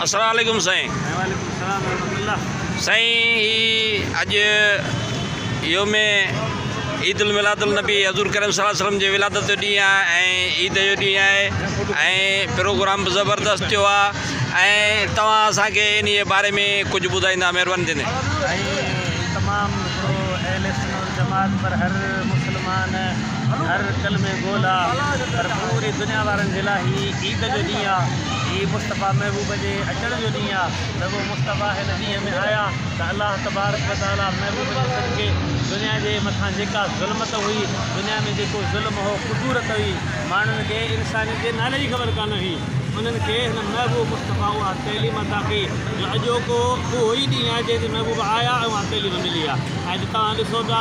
اسلام عليڪم سائين. سائين هي اڄ يوم عيد الميلاد النبي حضور ڪريم صلي الله عليه وسلم جي ولادت جو ڏينهن آهي ۽ عيد جو ڏينهن آهي ۽ پروگرام به زبردست ٿيو آهي ۽ توهان اسان کي انهي باري ۾ ڪجهه ٻڌائيندا مهرباني ٿيندي. سائين تمام سٺو ايل ايس چينل جماعت پر هر مسلمان هر ڪلمي گو لا پر پوري دنيا وارن جي لا هي عيد جو ڏينهن آ هي مصطفيٰ محبوب جي اچڻ جو ڏينهن آ رڳو مصطفيٰ هن ڏينهن ۾ آيا ته الله تبارڪ و تعاليٰ محبوب جي صدقي دنيا جي مٿان جيڪا ظلمت هئي دنيا ۾ جيڪو ظلم هو ڪدورت هئي ماڻهن کي انسانيت جي نالي جي خبر ڪانه هئي انهن کي هن محبوب مصطفيٰ اها تعليم عطا ڪئي جو اڄوڪو اهو ئي ڏينهن آ جنهن تي محبوب آيا ۽ اها تعليم ملي آ. اڄ توهان ڏسو پيا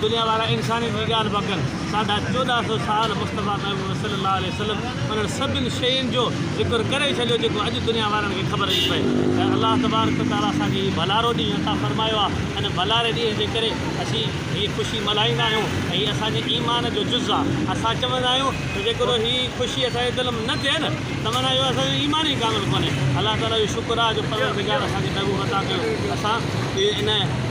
دنيا وارا انسانيت جي ڳالهه پيا ڪن، ساڍا چوڏهن سؤ سال مصطفيٰ محبوب صلّي اللّٰه عليه وسلّم انهن سڀن شين جو ذڪر ڪري ڇڏيو جيڪو اڄ دنيا وارن کي خبر نٿي پئي ته الله تبارڪ و تعالٰي اسان کي هي ڀلارو ڏينهن عطا فرمايو آهي ان ڀلاري ڏينهن جي ڪري اسين هي خوشي ملهائيندا آهيون ۽ هي اسان جي ايمان جو جز آهي اسان چوندا آهيون ته جيڪڏهن هي خوشي اسان جي دل ۾ نه ٿئي نه ته معنيٰ اهو اسان جو ايمان ئي ڪامل ڪونهي الله تعالٰي جو شڪر آهي جو پروردگار اسان کي محبوب عطا ڪيو اسان ان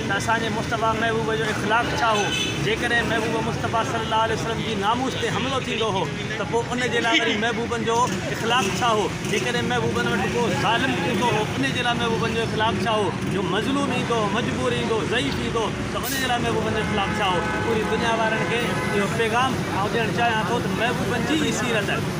ته اسان جي مصطفيٰ محبوب جو اخلاق ڇا هو؟ جيڪڏهن محبوب مصطفيٰ صلي الله عليه وسلم جي ناموس تي حملو ٿيندو هو ته پوء ان جي لاء وري محبوبن جو اخلاق ڇا هو؟ جيڪڏهن محبوبن وٽ ڪو ظالم ايندو هو ان جي لاء محبوبن جو اخلاق ڇا هو؟ جو مظلوم ايندو، مجبور ايندو، ضعيف ايندو ته ان جي لاء محبوبن جو اخلاق ڇا هو؟ پوري دنيا وارن کي اهو پيغام آئون ڏيڻ چاهيان ٿو ته محبوبن جي هي سيرت.